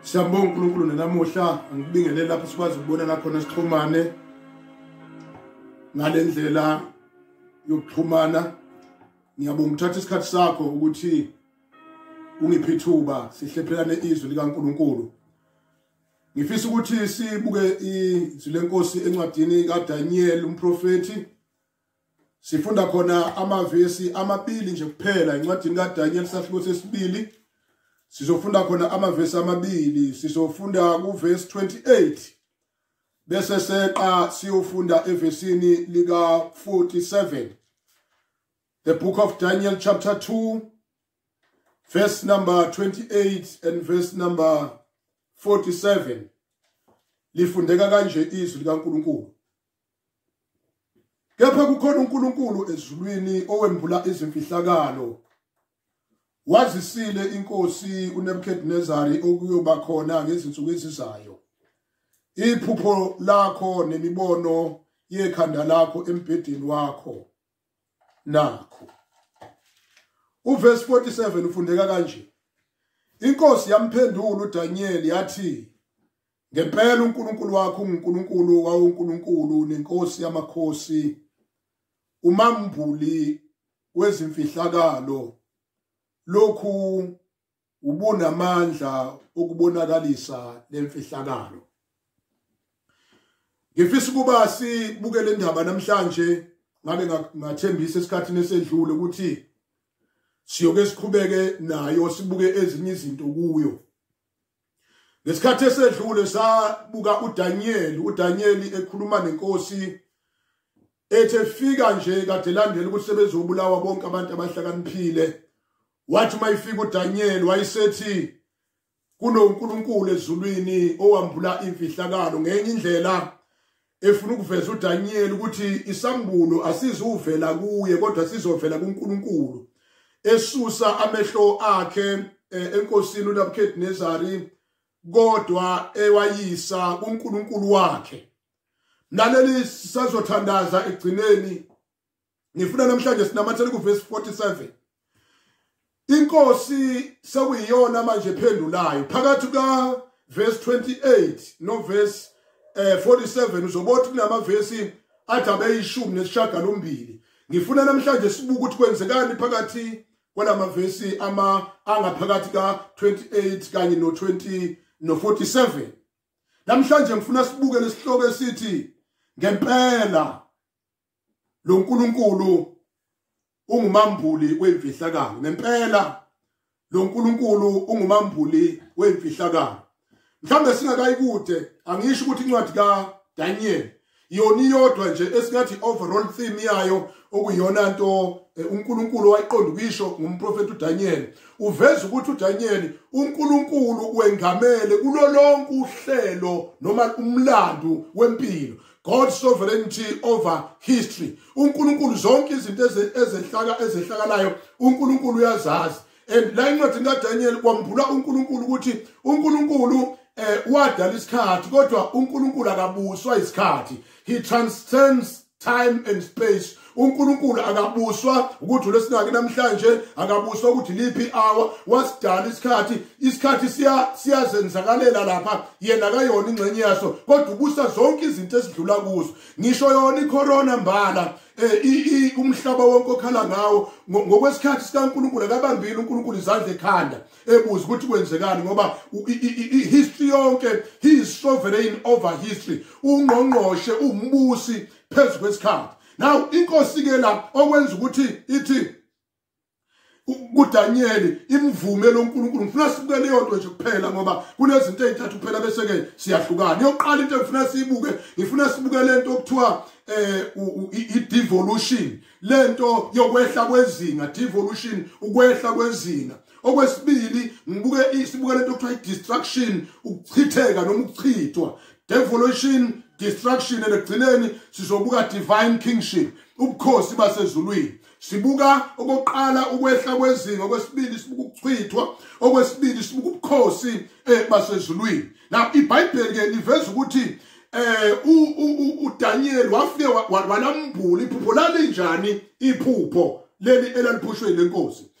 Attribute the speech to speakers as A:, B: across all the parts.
A: siyambonga unkulunkulu nenamuhla angikubingelele lapho sikwazi ukubona lakhona sixhumane ngale ndlela yokuxhumana ngiyabonga ukuthatha isikhathi sakho ukuthi ungiphe ithuba sihlephelane izwi likankulunkulu ngifisa ukuthi sibuke izwi lenkosi encwadini kadaniyeli umprofethi sifunda khona amavesi amabili nje kuphela incwadini kaDaniel sahluko sesibili sizofunda khona amavesi amabili sizofunda kuvesi 28 bese seqa siyofunda evesini lika 47 the book of Daniel chapter 2 verse number 28 and verse number 47 lifundeka kanje izwi likaNkuluNkulu kepha kukhona uNkulunkulu ezulwini owembula izimfihlakalo wazisile inkosi uNebukadnezari okuyoba khona ngezinsuku ezizayo iphupho lakho nemibono yekhanda lakho embhedeni wakho nakho uverse 47 ufundeka kanje inkosi yamphendula uDaniel yathi Ngempela uNkulunkulu wakho unguNkulunkulu wawuNkulunkulu nenkosi yamakhosi umambuli wezimfihlakalo lokhu ubunamandla okubonakalisa lemfihlakalo Ngifisa ukuba sibuke le ndaba namhlanje ngabe ngathembisa esikhathini esedlule ukuthi siyoke siqhubeke nayo sibuke ezinye izinto kuyo ngesikhathi esedlule sabuka uDaniel uDaniel ekhuluma nenkosi ethe fika nje kade landela ukuthi sebezobulawa bonke abantu abahlakaniphile wathi uma ifika uDaniel wayesethi kunoNkulunkulu ezulwini owambula imfihlakalo ngenye indlela efuna ukuveza uDaniyeli ukuthi isambulo asizuvela kuye kodwa sizovela kuNkulunkulu esusa amehlo akhe eh, enkosini uNabukadnezari kodwa ewayisa kuNkulunkulu wakhe naleli sazothandaza egcineni ngifuna namhlanje sinamathele kuvesi 47 inkosi sekuyiyona manje phendulayo phakathi ka verse 28 no verse eh 47 uzobothi kunama verse athi abeyishumi nesishagalombili ngifuna namhlanje sibuke ukuthi kwenzekani phakathi kwalama verse ama angaphakathi ka 28 kanye no 20 no 47 namhlanje ngifuna sibuke lesihloko esithi ngempela lo nkulunkulu ungumambuli wemfihlakalo ngempela lo nkulunkulu ungumambuli wemfihlakalo mhlawumbe singakayi kude angisho ukuthi incwadi kadaniel yona iyodwa nje esingathi overall theme yayo okuyona nto eh, uNkulunkulu wayiqonda ukuyisho ngumprofeti uDaniel uveza ukuthi uDaniel uNkulunkulu wengamele kulolonke uhlelo noma umlando wempilo God sovereignty over history uNkulunkulu zonke izinto ezehlaka ezehlakalayo uNkulunkulu uyazazi and la incwadi kaDaniel kwambula uNkulunkulu ukuthi uNkulunkulu eh wadala isikhathi kodwa uNkulunkulu akabuswa isikhathi he transcends time and space uNkulunkulu akabuswa ukuthi ulesinaki namhlanje akabuswa ukuthi liphi hour wasidala isikhathi isikhathi siya siyazenzakalela lapha yena kayona ingxenye yaso kodwa ubusa zonke izinto esidlula kuzo ngisho yona icorona mbala eh umhlaba wonke okhala ngawo ngokwesikhathi sikaNkuluNkulu akabambile uNkuluNkulu izandla ekhanda ebuza ukuthi kwenzekani ngoba history yonke he is sovereign over history ungqongqoshe umbusi phezu kwesikhathi now inkosi ke la okwenza ukuthi ithi kuDaniel imvume loNkulunkulu ngifuna sibuke leyo nto nje kuphela ngoba kunezinto ezintathu kuphela bese ke siyahlukana yokuqala into engifuna siyibuke ngifuna sibuke lento okuthiwa eh i-devolution lento yokwehla kwezinga devolution ukwehla kwezinga okwesibili ngibuke isibuke lento okuthiwa i-distraction ukuchitheka noma ukuchithwa devolution destruction and ekugcineni sizobuka divine kingship ubukhosi basezulwini sibuka okokuqala ukwehla kwezinga okwesibili sibuka ukuchithwa okwesibili sibuka ubukhosi eh, basezulwini now ibhayibheli ke liveza ukuthi eh uDaniel wafike walambula iphupho lalinjani iphupho leli elaliphushwe lenkosi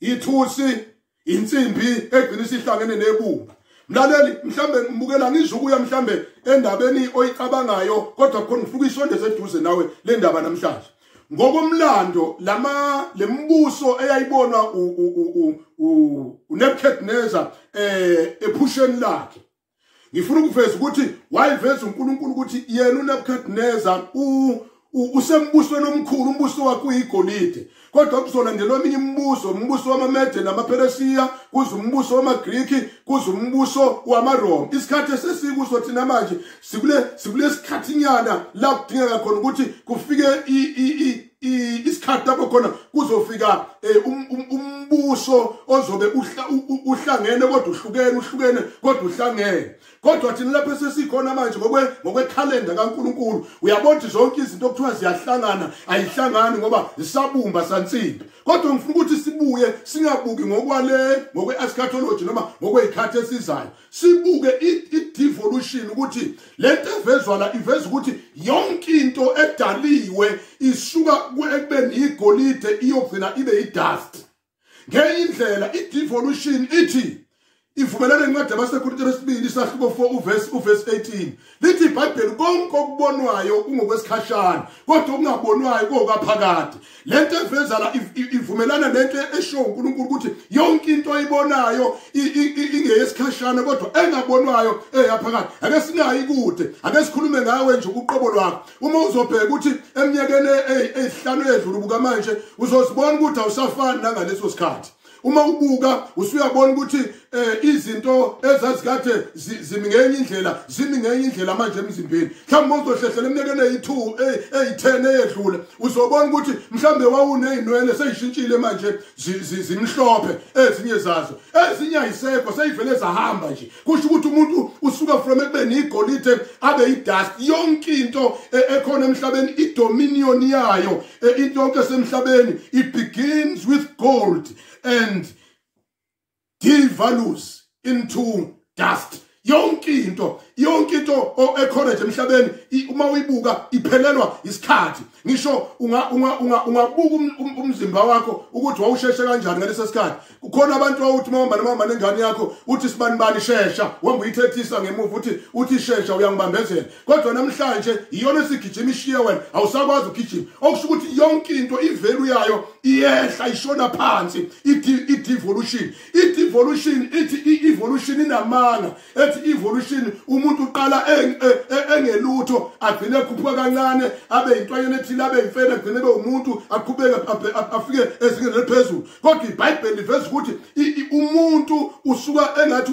A: ithusi insimbi egcina isihlangene nebumba mlaleli mhlambe ngibukela ngizukuya mhlambe endabeni oyicabangayo kodwa khona ngifuna isondeze eduze nawe le ndaba namhlanje ngokomlando lama lembuso eyayibonwa uNebuchadnezzar eh ephusheni lakhe ngifuna ukuveza ukuthi wayiveza uNkulunkulu ukuthi yena uNebukadnezar usembusweni omkhulu umbuso wakhe uyigolide kodwa kuzolandelwa eminye imibuso umbuso wamamede namaperesiya kuze umbuso wamagriki kuze umbuso wamaroma isikhathi esesikuso thina manje sikule sikule sikhathinyana la kudingeka khona ukuthi kufike isikhathi lapho khona kuzofika eh, um, um, umbuso ozobe uhlangene kodwa uhlukene uhlukene kodwa uhlangene kodwa thina lapho sesikhona manje ngokwe ngokwekhalenda kaNkuluNkulu uyabona ukuthi zonke izinto okuthiwa ziyahlangana ayihlangani ngoba zisabumba sansimbi kodwa ngifuna ukuthi sibuye singabuki ngokwale ngokwe-eschatology noma ngokwey'khathi esizayo sibuke i-devolution ukuthi le nto evezwa la iveza ukuthi yonke into edaliwe isuka ekubeni yigolide iyogcina ibe yi-dust ngenye indlela i-devolution ithi ivumelana incwadi abasekhulutini esibili isahluko 4 uvesi 18 lithi ibhayibheli konke okubonwayo kungokwesikhashana kodwa okungabonwayo kokaphakade lento eveza la ivumelana nento esho uNkulunkulu ukuthi yonke into oyibonayo ingeyesikhashana kodwa engabonwayo eyaphakade ake singayi kude ake sikhulume ngawe nje ubuqobo lwakho uma uzobheka ukuthi eminyakeni eyihlanu edlule buka manje uzozibona ukuthi awusafani nangaleso sikhathi uma ubuka usuyabona ukuthi eh izinto ezazikade zimi ngenye indlela zimi ngenye indlela manje emzimbeni mhlawumbe uzohlehlela emnyakeni eyi-2 eyi-10 eyedlule uzobona ukuthi mhlawumbe wawunezinwele seyishintshile manje zimhlophe ezinye zazo ezinye ayisekho seyivele zahamba nje kusho ukuthi umuntu usuka from ekubeni igolide abe idust yonke into e, ekhona emhlabeni idominion yayo e, into yonke esemhlabeni it begins with gold and devalues into dust yonke into yonke into ekhona nje emhlabeni uma uyibuka iphelelwa isikhathi ngisho ungabuka um, um, umzimba wakho ukuthi wawusheshe kanjani ngaleso sikhathi kukhona abantu wawuthi mawuhamba nomama nengane yakho uthi sibanibani shesha wamba uyithethisa ngemuva uthi uthi shesha uyangibambezela kodwa namhlanje iyona esigijima ishiye wena awusakwazi ukugijima okusho ukuthi yonke into ivelu yayo iyehla ishona phansi i-devolution i-devolution ithi i-evolution inamanga ethi evolution umuntu uqala e, engelutho agcine ekhuphuka kancane abe yintwanyana ethile abe yimfene agcine ebe umuntu aqhubeke afike ezingeni eliphezulu kodwa ibhayibheli liveza ukuthi umuntu usuka engathi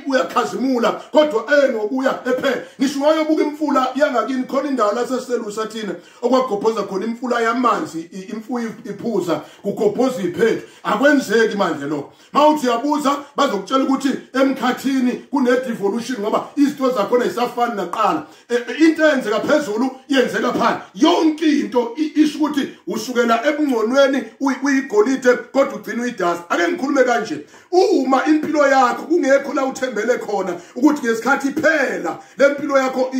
A: uyakhazimula kodwa enokuya ephela ngisho wayobuka imfula yangakini khona indawo laseselusa thina okwagobhoza khona imfula yamanzi imfuyo iphuza kugobhoza iphethu akwenzeki manje lokho mawuthi uyabuza bazokutshela ukuthi emkhathini kune-devolution ngoba izinto zakhona yisafani naqala e, e, into eyenzeka phezulu yenzeka phansi yonke into isho ukuthi usukela ebungconweni uyigolide kodwa ugcina uyidasi ake ngikhulume kanje uma impilo yakho kungekho la uthembele khona ukuthi ngesikhathi iphela le mpilo yakho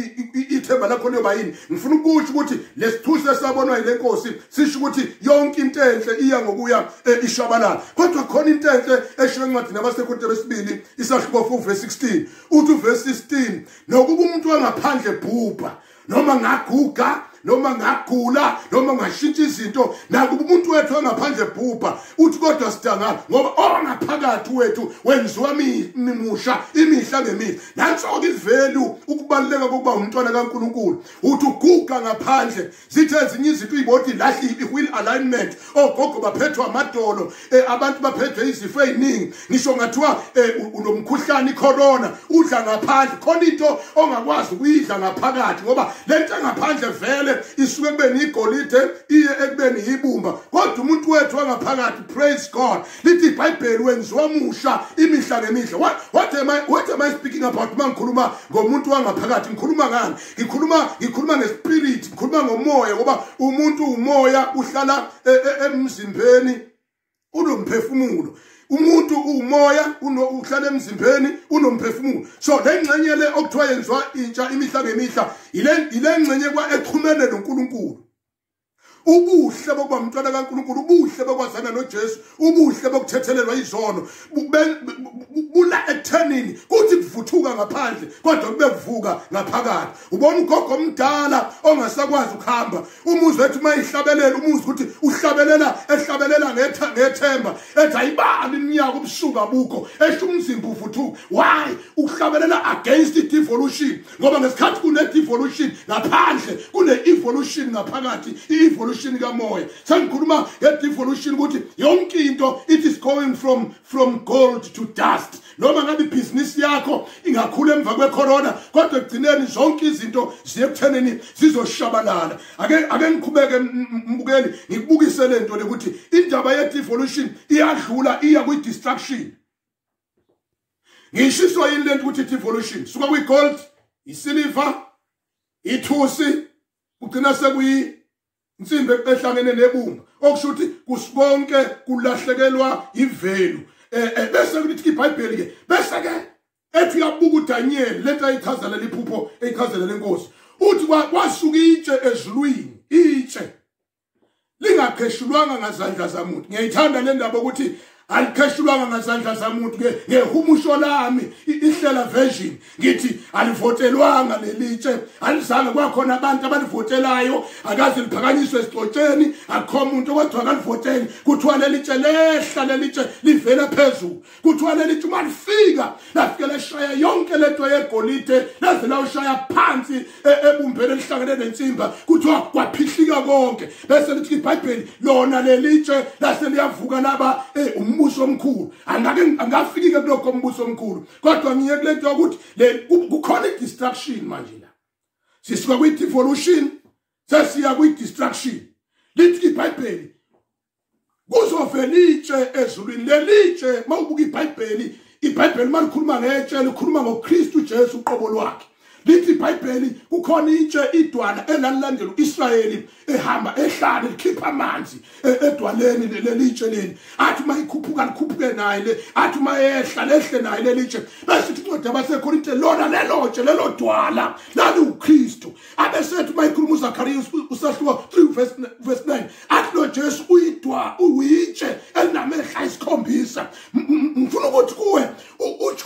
A: ithemba lakho liyoba yini ngifuna ukusho ukuthi lesithusi esabonwa yile nkosi sisho ukuthi yonke into enhle iya ngokuya eh, ishabalala kodwa khona into enhle eshiwe encwadini abasekhothe besibili isahluko 4 verse 16 uthi uverse 16 nokuba umuntu wangaphandle bhubha noma ngaguga noma ngagula noma ngashintsha izinto nakuba umuntu wethu wangaphandle bhubha uthi kodwa sidangala ngoba ongaphakathi wethu wenziwa mimusha imihla ngemihla nanso-ke ivelu ukubaluleka kokuba umntwana kankulunkulu uthi uguga ngaphandle zithi ezinye izinto uyiboti lahlile i-wheel alignment ogogo baphethwa amadolo um abantu baphethwe izifo ey'ningi ngisho ngathiwa um unomkhuhlane icorona udla ngaphandle khona into ongakwazi ukuyidla ngaphakathi ngoba le nto engaphandle vele isuke ekubeni igolide iye ekubeni yibumba kodwa umuntu wethu wangaphakathi praise god lithi ibhayibheli wenziwa musha imihla ngemihla what, what, am I, what am i speaking about uma ngikhuluma ngomuntu wangaphakathi ngikhuluma ngani ngikhuluma ngikhuluma ngespirit ngikhuluma ngomoya ngoba umuntu umoya uhlala e, e, emzimbeni unomphefumulo umuntu umoya uhlala emzimbeni unomphefumulo so le ngxenye le okuthiwa yenziwa intsha imihla ngemihla yile ngxenye kwa exhumene nonkulunkulu ubuhle bokuba umntwana kaNkulunkulu ubuhle bokwazana noJesu ubuhle bokuthethelelwa izono bula ekuthenini kuthi kuvuthuka ngaphandle kodwa kube kuvuka ngaphakathi ubona ugogo omdala ongasakwazi ukuhamba umuzi wethu uma ihlabelela umuzi ukuthi uhlabelela ehlabelela ngethemba ethi ayibani iminyaka ubusuku abukho esho umzimba uvuthuka why ukuhlabelela against i-devolution ngoba ngesikhathi kune-devolution ngaphandle kune-evolution ngaphakathi i-evolution kamoya sengikhuluma nge-devolution ukuthi yonke into it is going from from gold to dust noma ngabe ibhizinisi yakho ingakhula emva kwecorona kodwa ekugcineni zonke izinto ziyekuthenini zizoshabalala ake ake ngiqhubeke mbukeli ngikubukise le nto le ukuthi indaba ye-devolution iyadlula iya kwi-destruction ngishiswa yini lento ukuthi evolution suka kwi gold isiliver ithusi kugcina sekuyi insimbi ehlangene nebumba okusho ukuthi kusikonke kulahlekelwa ivelu eh, eh bese kuthi iBhayibheli ke bese ke ethi uyabuka uDaniel lento ayichazela liphupho eyichazela lenkosi uthi kwasuka itshe ezulwini itshe lingapheshulwanga ngazandla zamuntu ngiyayithanda le ndaba ukuthi alikheshulwanga ngazandla zamuntu ke ngehumusho lami ihlela version ngithi alivotelwanga lelitshe alizange kwakhona abantu abalivotelayo akaze liphakanyiswe esixotsheni akho muntu okwathiwa akalivoteli kuthiwa lelitshe lehla lelitshe livela phezulu kuthiwa leli tuma lifika lafike leshaya yonke lento yegolide laze lawushaya phansi e, ebumbeni elihlangene nensimba kuthiwa kwaphihlika konke bese lithi ibhayibheli lona lelitshe lase liyavuka laba e, umbuso omkhulu angake angafikike kulokho umbuso omkhulu kodwa ngiye kule nto yokuthi kukhona i-distraction manje la sisuka kwi-devolution sesiya kwi-distraction lithi ibhayibheli kuzovela itshe ezulwini lelitshe mawubuka iBhayibheli iBhayibheli malikhuluma ngetshe likhuluma ngoKristu Jesu uqobo lwakhe lithi iBhayibheli kukhona itshe idwala elalilandela uIsrayeli ehamba ehlane likhipha amanzi e, edwaleni lelitshe leli athi uma ikhuphuka likhuphuke naye le athi uma ehla lehle naye lelitshe bese incwadi abaseKorinte lona lelotshe lelodwala laliwuKristu abesethi uma ikhuluma uzakariya usahluko 3 verse 9 athi lo jesu uyidwa uyitshe elinamehla isikhombisa ngifuna ukuthi kuwe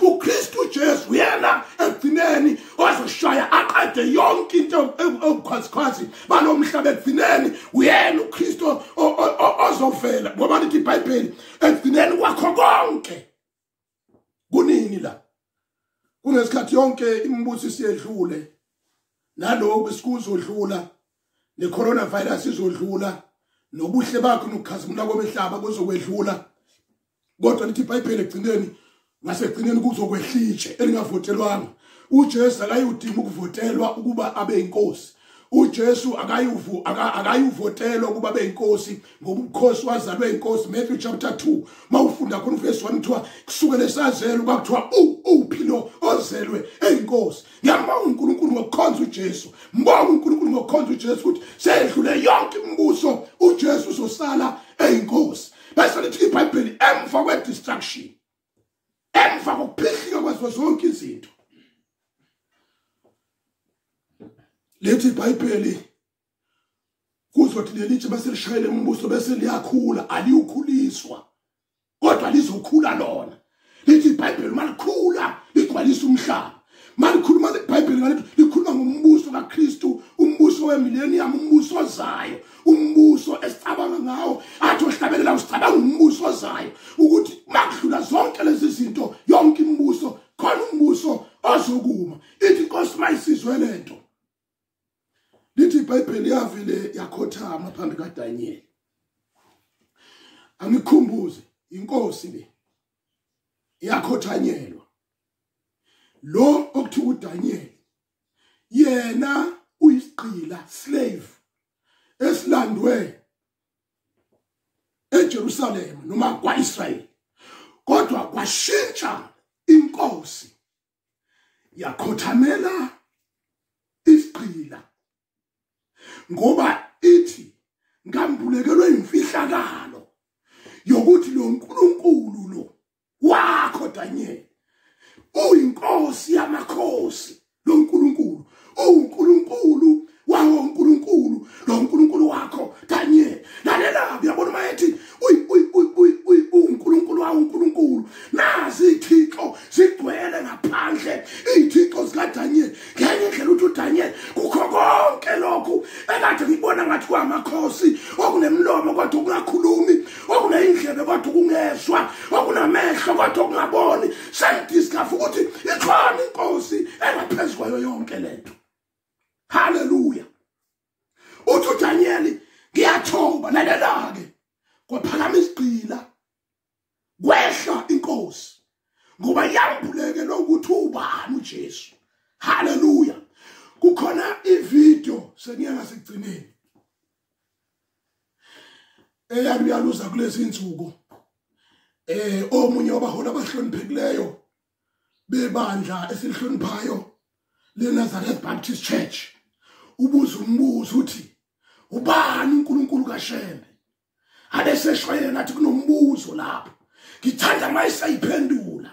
A: ukristu ujesu uyena ekugcineni ozoshaya aqede yonke into ewukhwazikhwazi balo mhlaba ekugcineni uyena ukristu ozovela ngoba lithi ibhayibheli ekugcineni kwakho konke kunini la kunesikhathi yonke imibuso isiyedlule naloku sikuzodlula necoronavirus izodlula nobuhle bakho nokukhazimula kobehlaba kuzokwedlula kodwa lithi ibhayibheli egcineni ngasekugcineni kuzokwehlitshe elingavotelwanga uJesu akayudinga ukuvotelwa ukuba abe inkosi uJesu akayuvu akayuvotela ukuba beyinkosi ngoba ubukhosi wazalwe inkosi Matthew chapter 2 mawufunda khona verse 1 kuthiwa kusuke lesazelo kwakuthiwa uphi lo ozelwe eyinkosi ngiyabonga uNkulunkulu ngokukhonza uJesu mbonga uNkulunkulu ngokukhonza uJesu ukuthi sedlule yonke imibuso uJesu uzosala eyinkosi bese lithi iBhayibheli emva kwe distraction emva kokuphihlika kwazo zonke izinto lethi ibhayibheli kuzothi lelithi bese lishayele umbuso bese liyakhula aliyukhuliswa kodwa lizokhula lona lithi ibhayibheli uma likhula ligcwalisa umhlaba malikhuluma ibhayibheli ngalethi likhuluma ngombuso kakristu umbuso wemillennium umbuso ozayo umbuso esicabanga ngawo athi ohlabelela usicabanga umbuso ozayo ukuthi makudlula zonke lezi zinto yonke imibuso khona umbuso ozokuma ithi inkosi mayisizwe le nto lithi ibhayibheli yavele yakhothama phambi kadanyeli angikhumbuze inkosi le yakhothanyelwa lo okuthiwa uDaniel yena uyisigqila slave esilandwe eJerusalem noma kwaIsrael kodwa kwashintsha inkosi yakhothamela isigqila ngoba ithi ngambulekelwe imfihlakalo yokuthi lo nkulunkulu lo wakho Daniel uyinkosi yamakhosi lo nkulunkulu uwunkulunkulu wawo unkulunkulu lo nkulunkulu wakho Daniel lalela uyabona uma ethi uwunkulunkulu wawo unkulunkulu nazi ithixo zigcwele ngaphandle iy'thixo zikadaniel ngenye indlela uthi udaniel kukho konke lokhu ekade ngibona ngathi kwamakhosi okunemlomo kodwa kungakhulumi okuneyindlebe kodwa ukungezwa okunamehlo kodwa okungaboni sengidiscover ukuthi ikhona inkosi engaphezu kwayo yonke lento haleluya uthi uDaniyeli ngiyathoba lalela-ke kwaphakama isigqila kwehla inkosi ngoba yambuleke lokuthi ubani uJesu haleluya kukhona ivideo sengiya ngasekugcineni eyami uyaluza kulezi nsuku eh omunye wabaholi abahloniphekileyo bebandla esilihloniphayo leNazareth Baptist Church ubuza umbuzo uthi ubani uNkulunkulu kaShembe abeseshwayela ngathi kunombuzo lapho ngithanda uma esayiphendula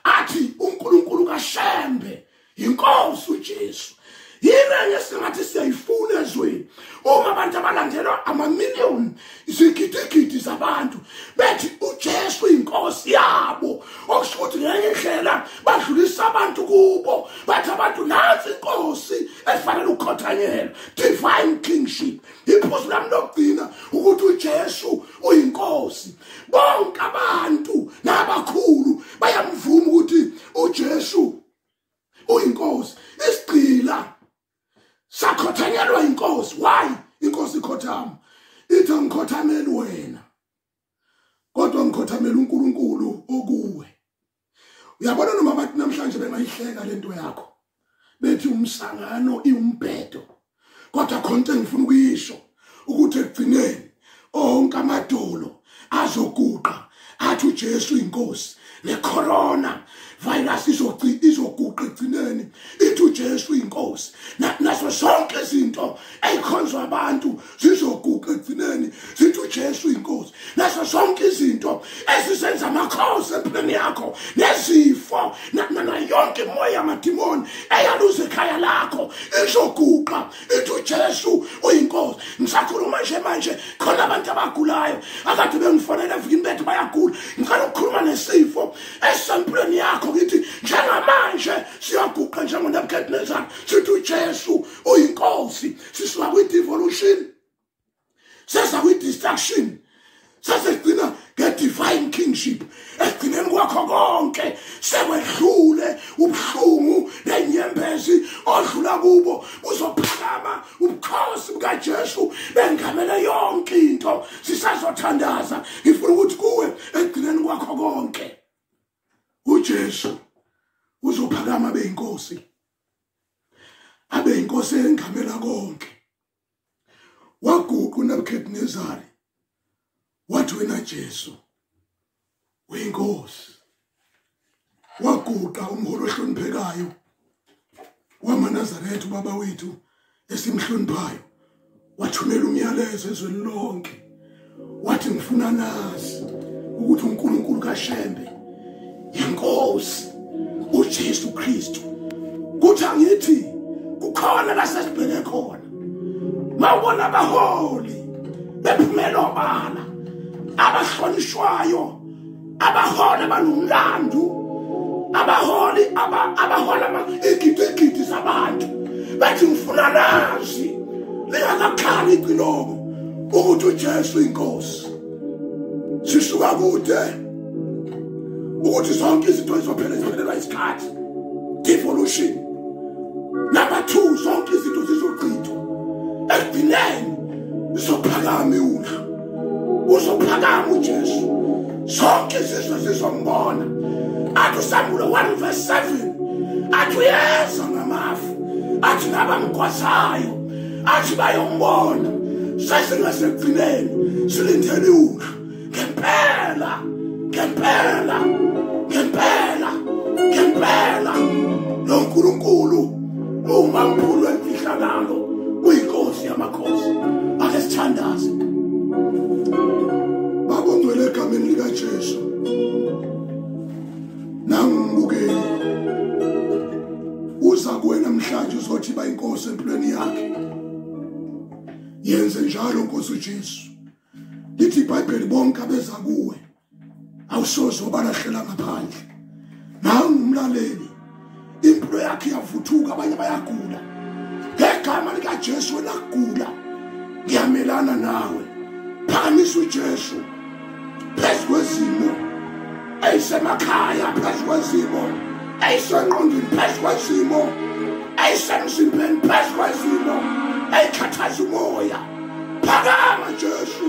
A: athi unkulunkulu kashembe yinkosi ujesu yini enye singathi siyayifuna ezweni uma abantu abalandelwa amamiliyoni izigidigidi zabantu bethi ujesu yinkosi yabo okusho ukuthi ngenye indlela badlulisa abantu kubo bathi abantu nansi inkosi efanele ukukhothanyelwa divine kingship iphuzu lami lokugcina ukuthi uJesu uyinkosi bonke abantu nabakhulu bayamvuma ukuthi uJesu uyinkosi isigcila sakhothanyelwa inkosi why inkosi ikhothama ithi angikhothameli wena kodwa ngikhothamela uNkulunkulu okuwe uyabona noma bathi namhlanje bengayihleka lento yakho bethi umsangano iwumbhedo kodwa khonke ngifuna ukuyisho ukuthi ekugcineni onke amadolo azoguqa athi uJesu inkosi necorona virus izoci izoguqa egcineni ithi uJesu inkosi naso sonke izinto ezikhonzwa abantu zizoguqa ekugcineni zithi ujesu uyinkosi naso zonke izinto ezisenza amakhosi empilweni yakho nezifo nayonke imoya yamadimoni eyaluza ekhaya lakho izoguqa ithi ujesu uyinkosi ngisakhuluma nje manje khona abantu abagulayo akade bengifonela evikini bethu bayagula ngicela ukukhuluma nesifo esisempilweni yakho ngithi njengamanje siyaguqa njengonebukadnezar sithi ujesu uyinkosi sisuka kwi-devolution sesa kwi-destruction sesigcina nge-divine kingship ekugcineni kwakho konke sekwedlule ubuhlungu nenyembezi odlula kubo kuzophakama ubukhosi bukajesu bengamele yonke into sisazothandaza ngifuna ukuthi kuwe ekugcineni kwakho konke ujesu uzophakama beyinkosi abe inkosi engamela konke waguqa uNebukadnezari wathi wena Jesu uyinkosi waguqa umholi ohloniphekayo wamanazaretha ubaba wethu esimhloniphayo wathumela umyalezo ezweni lonke wathi ngifuna nazi ukuthi uNkulunkulu kaShembe inkosi uJesu Kristu kuthi angithi kukhona lasesibheke khona mawubona abaholi bephumela obala abahlonishwayo abaholi abanomlandu abaholi abahola igidigidi zabantu bathi ngifuna lazi lingakakhali iciloko ukuthi ujesu inkosi sisuka kude ukuthi zonke izinto zizophela ziphelelwa isikhathi devolution number two zonke izinto zizochithwa ekugcineni zizophakama iwula uzophakama ujesu zonke izizwe zizombona athi usambulo 1 verse 7 athi uyeza ngamafu athi nabamgwazayo athi bayombona sesingasekugcineni silindele iwuhlu ngempela ngempela ngempela ngempela lo nkulunkulu uma mkhulu emfihlakalo uyinkosi yamakho Nkosi ake sithandaze Baba ngcwele egameni lika Jesu Nangibukele uza kuwe namhlanje uzothi ba inkosi empilweni yakhe Yenze njalo Nkosi uJesu Lithi iBhayibheli bonke abeza kuwe awusoze wabalahlela ngaphandle nawe ngumlaleli impilo yakhe iyavuthuka abanye bayagula ngegama likajesu wena kugula ngiyamelana nawe phakamisa ujesu phezu kwezimo eyisemakhaya phezu kwezimo eyisengqondweni phezu kwezimo eyisemzimbeni phezu kwezimo eyikhathaza umoya phakama jesu